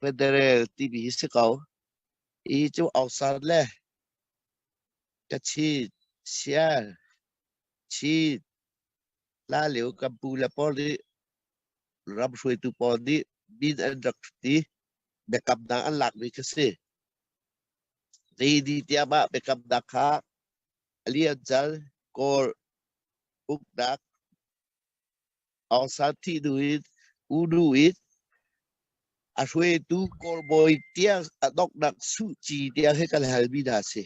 Federal tibi hi si ko. Hi cu Ausar le Kachin, Siar, Chin, Lalio, Kampu le pawl nih ram hruaitu pawl nih min an rak ti. Biakamnak an lakmi kha si. Lady tiang ah biakamnak kha a lian cal, kawl, uknak, Aung San Thih nu in U Nu in a hruaitu kawlbawi tiang a donghnak Suci tiang he kan halmi hna a si.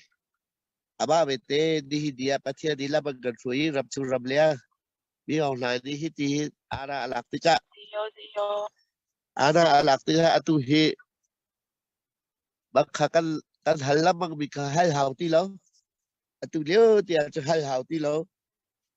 Amah vete nihin ni ah Pathian nih lam an kan hruai i ram chung ram liang mi aung hlai nih hi ti hin aana a lak tikah aana a lak tikah atu hi bangkha kan kan hal lengmang mi kha hal hau ti lo atu lio tiang cu hal hau ti lo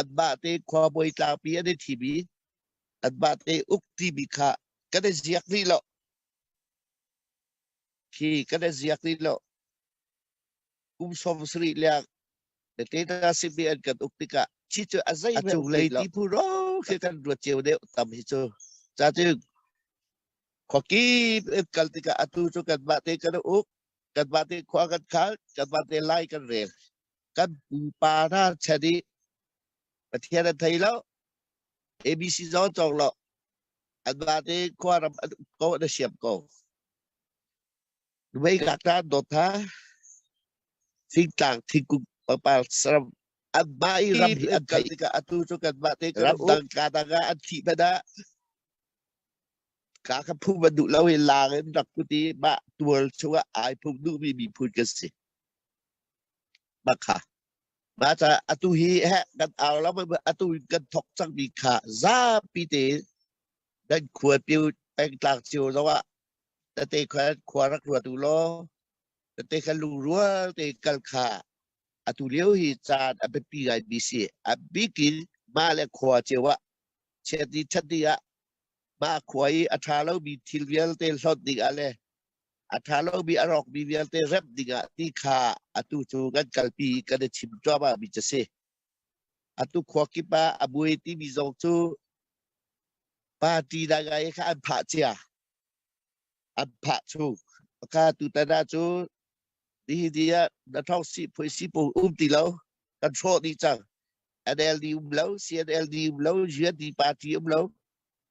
anmah te khuabawi tlangpi an i thim i anmah te uk timi kha kan i ziak rih lo khi kan i ziak rih lo kum som sarih liang na te na simi an kan uk tikah chi cu a zei hmanh cung lei ti phu ro khi kan ruat ceu deuh tam hi cu cha cu khoki in kal tikah atu cu kan mah te kan uk kan mah te khua kan khal kan mah te lai kan rel kan pupa hna chan i Pathian an thei lo ABC zong cawk lo an te khuaram an um ko an siam ko Wei ngak ta dot ha thingtlang thingkung papal saram an ma i ram hi an kai ka atu chu kan ma te ram dang ka dang an thi bana ka ka phu man du lo hi lang in rak ku ti ma tual chunga ai phung du mi mi phun ka si Bakha. Baca atu hi heh kan au lo atu kan thok cangmi kha zapi te kan khua piu pengtlang cio zo ah tate kha khua rak ruat u law tate kha lu rua te kal kha atu lio hi caan a biapi ngai mi si a bikin mah le khua cio ah chet ni chat ni ah mah khua i a ṭha lomi thil vialte hlawt ding ah le A ṭha lomi a rawkmi vialte remh dingah ti kha atu cu kan kalpi i kan i chim cuahmahmi cu a si. Atu khua kip ah a buai timi zong cu party dai ngai kha an phah cia. An phah chung. Ka tutan ah cu nihi ni ah na thong si phui si pu um ti lo kan hrawh dih cang. NLD um lo, CNLD um lo, UND party um lo,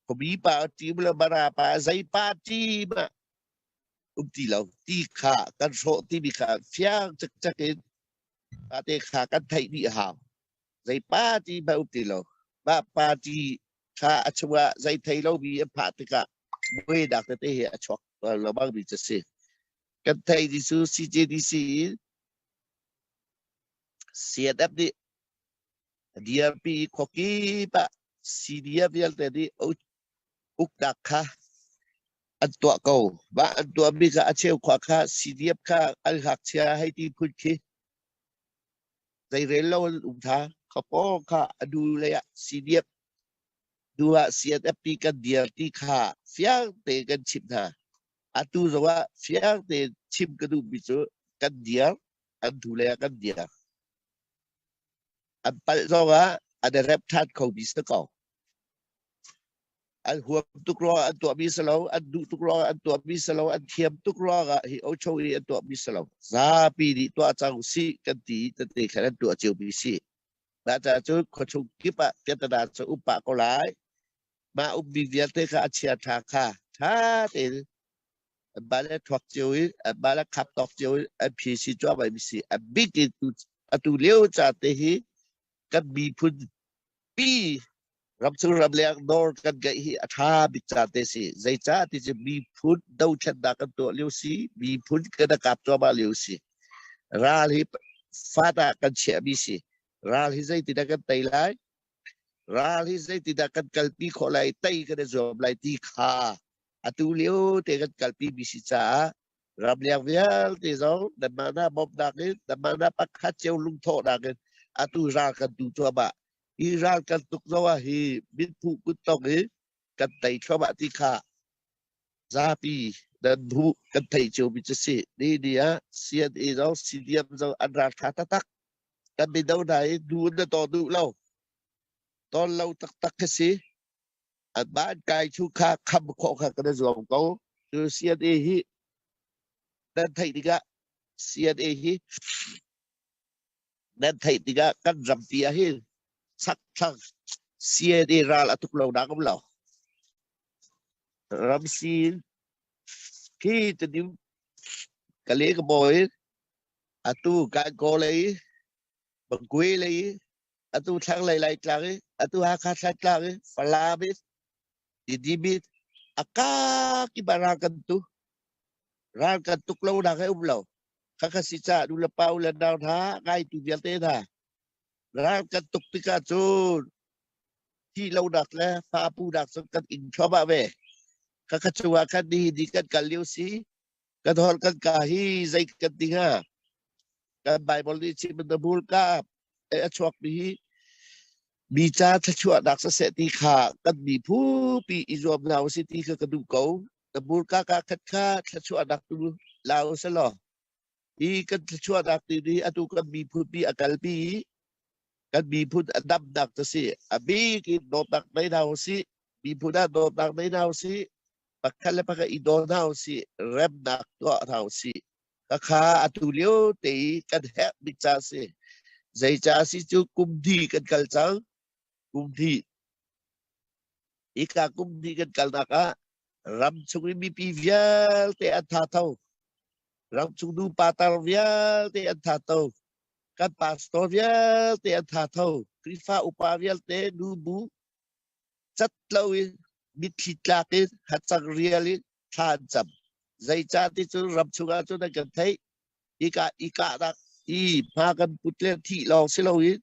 Komipa team le marapa zeipa team ah um ti lo ti kha kan hrawh timi kha fiang cikcek in tate kha kan theih dih hau zei party ma um ti lo mah party kha a chungah zei thei lo mi an phah tikah buai dak tete hi a chuak lo bang mi cu si kan thei ti cu CJDC in CNF nih dirpi khuakip ah sidia vialte nih uknak kha an tuah ko mah an tuahmi kha a cheu khua kha sidiap kha an hngakchia hei ti phun khi zeirel lo an um tha khapo kha adu lei ah sidiap du ah CNF pi kan dir ti kha fiang te kan chim hna atu zawa fiang te chim ka duh mi cu kan dir an tu le kan dir An palh zongah an i rep ṭhan khomi si ko. An huam tuk ruangah an tuahmi si lo, an duh tuk ruangah an tuahmi si lo, an thiam tuk ruangah hi ocho i an tuahmi si lo. Zapi nih tuah cang usih kan ti i tete khan an tuah cio mi si. Na caah cun khuachung kip ah Pyatana cu um pah ko lai. mah ukmi vialte kha a chiaṭha kha ṭha tein bal a thuak cio i bal a khap tawk cio i a phi si cuahmai mi si a bit in atu leo ca te hi kan miphun pi ram chung ram leng nor kan gaih hi a ṭha bik ca te si zeicah ti cu miphun dothlennak kan tuah lio si miphun kan akap cuahmah lio si ral hi fata kan chiah mi si ral hi zeitin kan tei lai Ral hi zeitindah kan kalpi khawh lai, tei kan i zuam lai ti kha atu lio te kan kalpi mi si caah ramleng vialte zong nanmah hna bawmhnak in nanmah hna pakhat cio lungthawhnak in atu ral kan tu cuahmah. Hi ral kan tuk zong ah hi min phu kut tong i kan tei thluahmah ti kha zapi nan hmuh kan thei cio mi cu si. Ni ni ah CNA zong CDM zong an raltha taktak. Kan mino hna hi nu na tawn duh lo. Tawn lo taktak ka si. An man kai chu kha kham khawh kha kan zuam ko. Cu CNA hi nan theih tikah CNA hi nan theih tikah kan rampi ah hin sak thang CNA ral a tuk lo na kom lo. Ramsi hi te niu kale ka boy Atu Gangaw lei i Magway lei i atu thlanglei Laitlang i atu Hakha Thantlang i Falam i Tidimit a kak i bara kan tu ral kan tuk lo nak ai um lo khakha si ca nu le pa u le nau hna ngai tu vialte hna ral kan tuk tikah cun thi lo nak le fa pu nak cu kan in thluahmah ve khakha chungah khan ni ni kan kal lio si Ka dor kan ka hi zei kan ding ha kan Bible nih chim in the bul ka a chuak mi hi mi cha thlachuah nak saseh ti kha kan mi phu pi i zuam hna u si ti kha ka duh ko the bul ka ka khat kha thlachuah nak tu lao se law hi kan thlachuah nak ti ni atu kan mi phu pi akal pi kan mi phu dam nak to si a bik in dawt nak nei na u si mi phu na dawt nak nei na u si pakhat le pakhat i daw hna u sih remnak tuah hna u sih ka kha atu lio te i kan herh bik ca si zei ca si cu kumdi kan kal cang kumdi ika kumdi kan kalnak ah ram chung in mipi vialte an tha tho ram chung nu patar vialte an tha tho kan pastor vialte an tha tho krifa upa vialte nu bu cat loin mitthli tlak in hacang rial in thla an cam zeica ti cu ram chungah cun an kan theih ika ikahnak i hma kan put le thih lawng si loin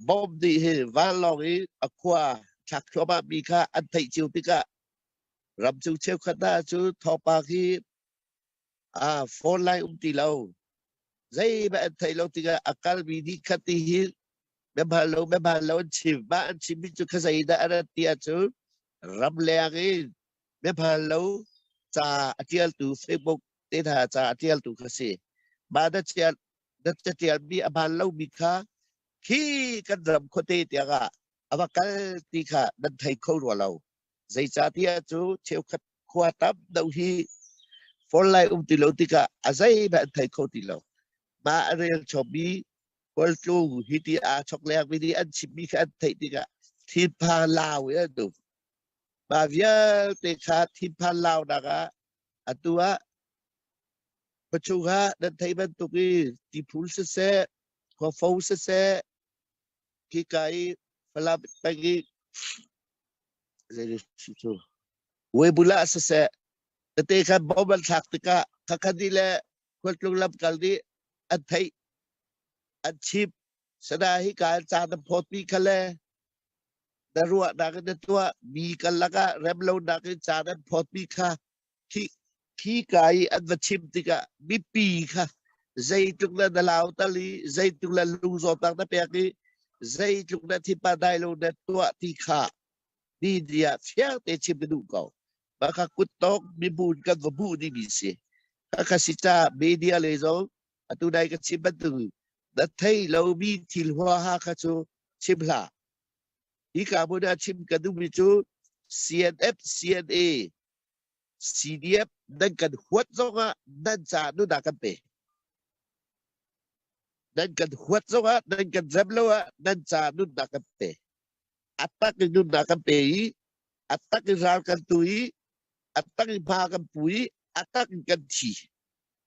bom nih hi vanlawng i a khua thlak thluahmah mi kha an theih cio tikah ram chung cheukhat hna cu thawngpang hi ah phone lai um ti lo zei ba an thei lo tikah a kalmi nih khat ti hi na bal lo na bal lo an chim ba an chim mi cu khazei dah a rat ti ah cu ram leng i na bal lo ca a tialtu facebook te tha ca a tialtu kha si ma na tial na tial mi a bal lo mi kha khi kan ram khote tiang ah a va kal ti kha nan thei kho rua lo Zeicatiah cu cheukhat khua tam deuh hi for lai um ti lo tikah a zeihmanh an thei kho ti lo. Ma a rel chomi kawltlu hi ti aa chok lengmi nih an chimmi kha an theih tikah thinpha lau in an um. Ma vialte kha thinpha launak ah atu ah pachung ah nan thei bantuk i tiphul siseh, khuafo siseh, Hika i Falam peng i Webulah ah siseh, tete khan bomb an thlak tikah khakhat ni le khualtlung lamkal nih an theih, an chimh. Sana hika an caan na phawtmi kha le na ruahnak in na tuah mi karlak ah rem lonak in caan an phawtmi kha Khika i an va chim tikah mipi kha zeitluk na lautal i zeitluk na lungzawtnak na pek i zeitluk na thinpa dai lo na tuah ti kha ni dia fiang te chim na duh ko. Maka kuttawk mibun kan va bu ni mi si. Kaka si ta media le zo atu dai ka chim bantu na thei lo mi thil hua ha kha chu chim hla. Hi ka bu na chim ka duh mi chu CNF CNA CDF nan kan huat zongah nan caah nunah kan pe. Nan kan huat zongah nan kan rem lo ah nan caah nunah kan pe. A tak in nunah kan pe i, a tak in ral kan tu i, a tak in hma kan pu i, a tak in kan thi.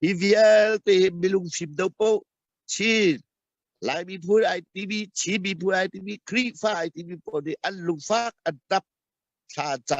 Hi vialte hi milung fim do po, Chin, Laimi phu ITV, Chinmi phu ITV, Khrihfa ITV pawl nih an lungfak an tap, thla ca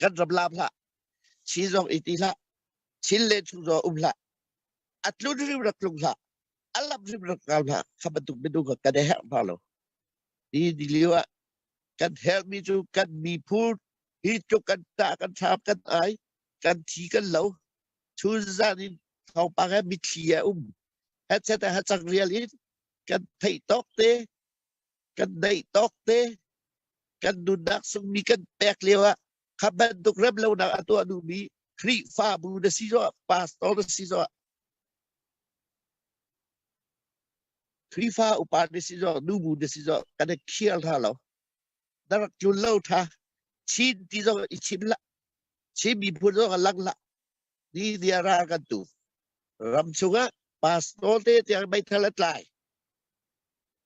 kan ram laam hlah si zong i ti hlah sin le chung zong um hlah a tlun rim rak tlung hlah a lam rim rak kau hlah kha bantuk minung ka kan herh ma lo ti di liu ah kan herh mi cu kan mi phur hi tu kan ta kan chap kan ai kan thi kan lo chun zan in thau pa he mi thli a um ha chet ha chak rial in kan thei tok te kan daih tawk te kan nunnak sungmi kan pek lio ah kha bantuk rem lonak a tuah duhmi Khrihfabu na si zo pastor na si zo Khrihfa upa na si zo nubu na si zo kan i khiar tha lo na rak jul lo tha chin ti zo i chim la chin mi phun zo lang la ni dia ral kan tu ram chungah pastor te tiang meithal a tlai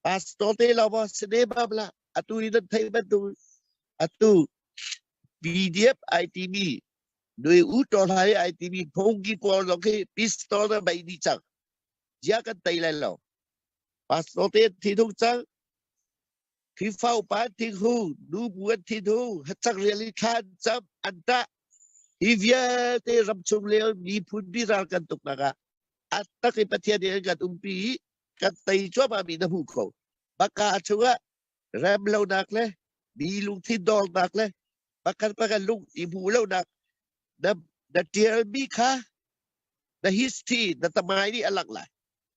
pastor te lo bo sine babla atu ni nan thei ban tu atu PDF ITV nui u to lai ITV phongi kwal lo khi pistol na bai ni chang ya kan tai lai lo pastor te thi thung chang Khrihfa upa thik hu, nu buat thit hu, hacak rial i thlan chap an tah. Hi vialte ram chung leo miphun biral kan tuk nakah at tak i pathian in kan umpi i kan tei chuama mi na hmu kho. Baka chunga rem lo nak le mi lungthin dawr nak le pakhat pakhat lung i hmu lo nak na na tial mi kha na history na tamai nih alak lai.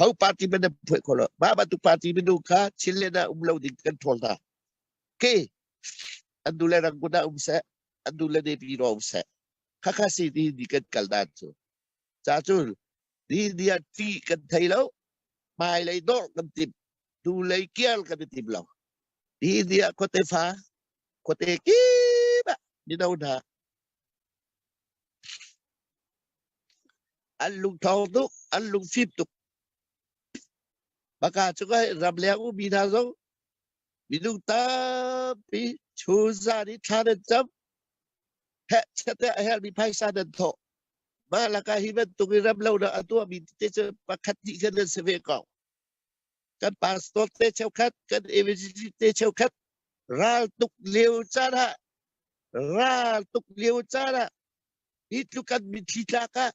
ho party man na phuah khawh lo mah bantuk party minung kha chinlen ah um lo ding kan ṭhawl hna ke an nu le rangun ah um seh an nu le nepi ro um seh khakha si ni ni kan kal dan cu ca cu ni ni ah ṭi kan thei lo mai lei dor kan tim tu lei kial kan i tim lo hi ni ah khuate fa khuate kima mino hna An lungthong tuk, an lungfim tuk. Maka cu kai ramleng umi hna zong minung tampi chunzan i thlan an cam. Hehchateh a hermi phaisa nan thawh. Mah lakah hi bantuk i ramlo na a tuahmi te cu pakhat hnih khan nan si ve ko. kan pastor te cheukhat kan evangelist te cheukhat ral tuk lio caan ah ral tuk lio caan ah hi tlukan min thli tlak ah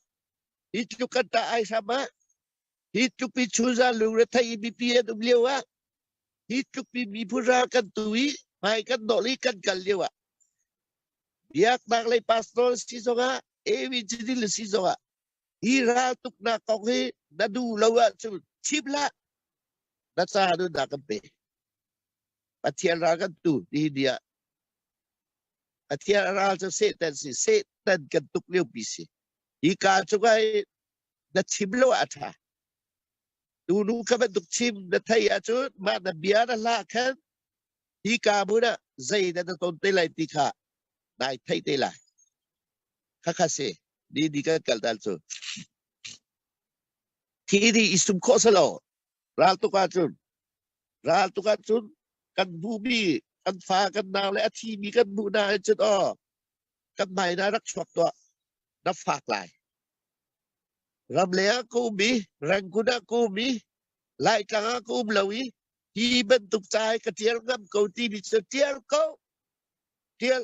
hi tlukan ta ai hram ah hi tlupi chunza lungre thai mi pi an um lio ah hi tlupi mi pura kan tu i mai kan dol i kan kal lio ah biak nak lei pastor si zong ah evangelist si zong ah Hi raltuknak kong hi na duh lo ahcun chip hlah. Na ca nun da kan pe. Pathian ral kan tu ti dia. Pathian ral cu Satan si. Satan kan tuk lio pi si. Hi ka cu kai na chim lo a tha. Tu nu ka bantuk chim na thei ahcun mah na bia na hla khan hi ka bu na zei na na ton te lai ti kha nai thei te lai. Kha kha si. Didi kan kal tal cu. Thi di i sum khawh salo. Ral tuk ahcun, ral tuk ahcun kan bumi, kan fa, kan nau le a thi mi kan nu hna hin cun aw, kan hmai na rak chuak tuah, na fak lai. Ram leng ah ka um i, Rangoon ah ka um i, Laitlang ah ka um lo i, hi bantuk cai ka tial ngam ko ti mi cu tial ko, tial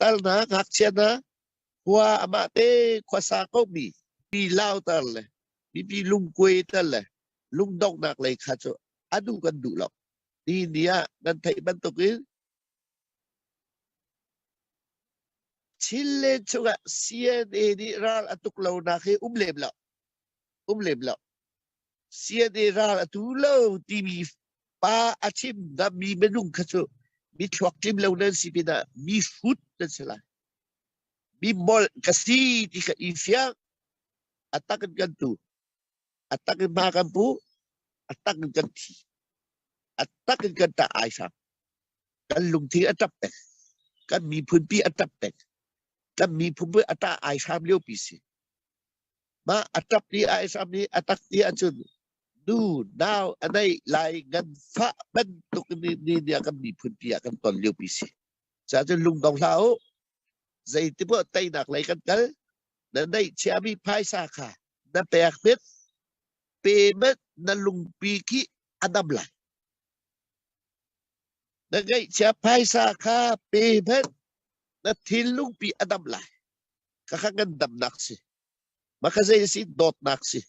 Tarnak ngakchia hna, khua amah te khuasa komi mi lautar le mipi lungkuai tal le lungdonghnak lei kha cu a duh kan duh lo. Ni ni ah nan theih bantukin Chin le chungah CNA nih ral a tuk lonak hi um lem lo. Um lem lo. siate ral a tu lo timi pa a chim na mi minung kha cu mi thluak tlim lo nan si pinah mi hrut nan si lai mi molh ka si ti ka i fiang atak in kan tu atak in ma kan pu atak in kan thi atak in kan ta ai sang kan lungthi a tap pek kan mi phunpi a tap pek kan mi phunpi a ta ai sam lio pi si Mah a ṭap i a ihram i a tak ti ahcun nu nau a neih lai nganfah bantuk ni a kan miphunpi ah kan ton liopi si. Cuacun lung dong hlah u. Zeitimaw teinak lei kan kal, na neihchiami phaisa kha na pek tik, payment na lungpi khi a nam lai. Na ngeihchia phaisa kha payment na thinlungpi a nam lai. ka kha kan damnak si ma kha zei si dawtnak si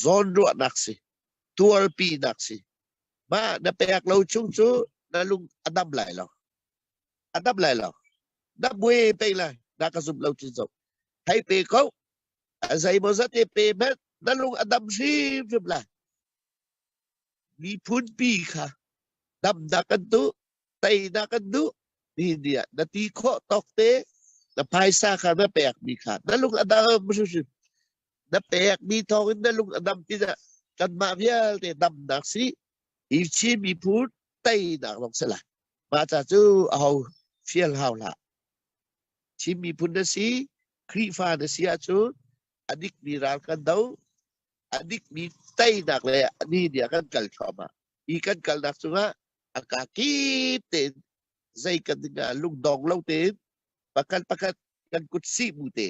zawnruahnak si tuarpinak si ma na pek lo chung cu na lung a dam lai lo a dam lai lo na bue pe lai na ka zum lo chin zo hai pe ko azai mo zate pe met na lung a dam hrim hrim lai mi phun pi kha damnak kan tu tei dah kan duh ti dia na ti khawh tawk te na phaisa kha na pek mi kha na lung adam hrimhrim na pek mi thawng in na lung adam pina kan mah vialte dam nak si i chi mi phu tei nak long sela ma ta chu a ho fiel hau la chim mi phun na si khrifa na si a chu adik mi ral kan do adik mi tei nak le ani dia kan kal thoma i kan kal nak chunga a kaa kip tein zei kan dingah lungdong lo tein pakhat pakhat kan kut si bu te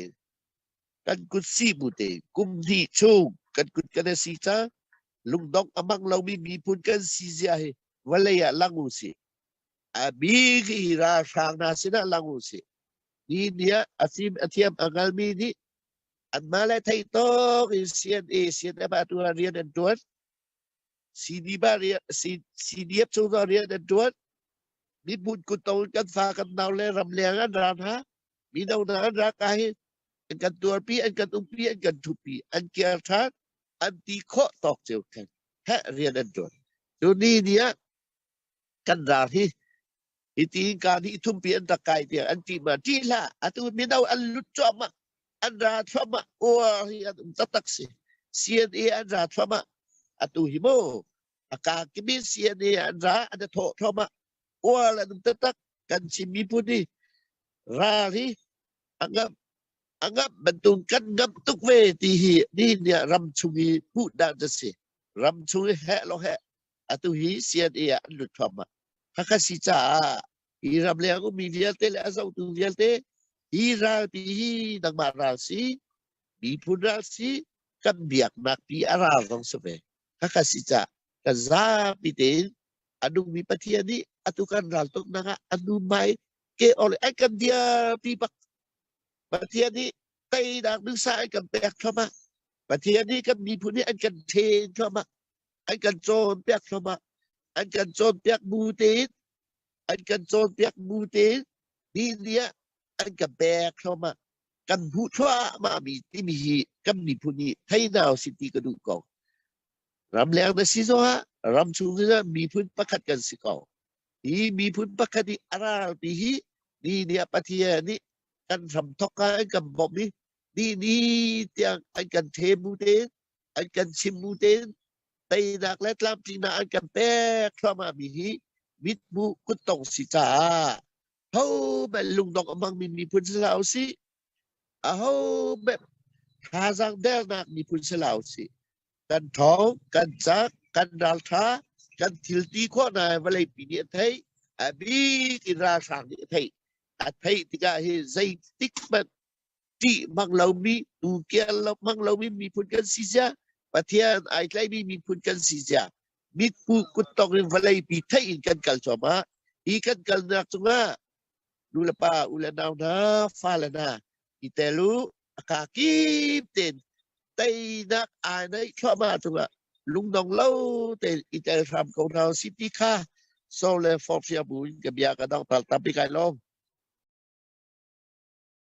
kan kut si bu te kum hnih chung kan kut kan si cha lungdong amak lomi miphun kan si zia hi vawlei ah lang u si a bi hi ra hrang na sinah lang u si ni nia asim athiam angal mi nih anma le thei tok in sian e sian eba tuan rian an tuan CDF ah rian CDF cungah rian an ṭuan. Miphun kutto in kan fa kan nau le ram leng an ra hna. Mino hna an ra ka hi an kan tuarpi, an kan umpi, an kan thupi, an kiar ṭhan, an ti khawh tawk ceu theng. He rian an ṭuan. Tuni ni ah kan ral hi Hiti hinka nih thumpi an rak kai tiang an ṭih ma ṭih hlah, atu mino an lut cuahmah, an ra thluahmah, uar hi an um taktak si. CNA an ra thluahmah, atu hi mu aka kimi CNA an ra an thawh thluahmah, uar an um taktak, kan Chin miphun hi ral hi angam angam bantuk kan ngam tuk ve ti hi nihin nih ram chung i hmuh dan a si. Ram chung i heh lo heh atu hi CNA ah an lut thluahmah. Hakha si caah hi ram leng ummi vialte le a zotu vialte hi ral pi hi nangmah ral si miphun ral si kan biaknak pi a ral zong si ve haka si ca kan zapi tein a nungmi pathian nih atu kan ral tuk nang ah a num mai ke ol ai kan dia pi bak pathian nih tei nak nu sa ai kan pek thama pathian nih kan miphun nih an kan then thama an kan cawnpiak hram ah an kan cawnpiak bu tein an kan cawnpiak bu tein ni ni ah an kan pek hram ah kan hmuh thluahmah mi timi hi kan miphun hi theinau si ti ka duh ko ram leng na si zongah ram chung in miphun pakhat kan si ko hi miphun pakhat i a ral ti hi ni ni ah pathian nih kan hram thok ka an kan bawmh i ni ni tiang an kan the bu tein an kan chim bu tein teinak le tlamtlinak an kan pek thluahmah mi hi mithmuh kuttong si caah ho bel lungdong amang min miphun si la si a ho bel thazaang dernak miphun si la si kan thong kan cak kan raltha kan thil ti khawh na vawlei pi nih a thei a bik in ralhrang nih a thei a thei tikah hi zeitik hmanh ṭih hmang lomi, tu kiar lo hmang lomi miphun kan si cia. Pathian ai tlaimi miphun kan si cia. Mitku kuttong in vawleipi theih in kan kal cuahmah. Hi kan kalnak cungah nulepa u le nau hna, fale hna, i tel u, aka kim ten teinak ai nei thluahmah cungah lungdong lo tein i tel hram ko hna si ti kha so le forhfial bu in ka bia ka dong tal tampi kai lawm.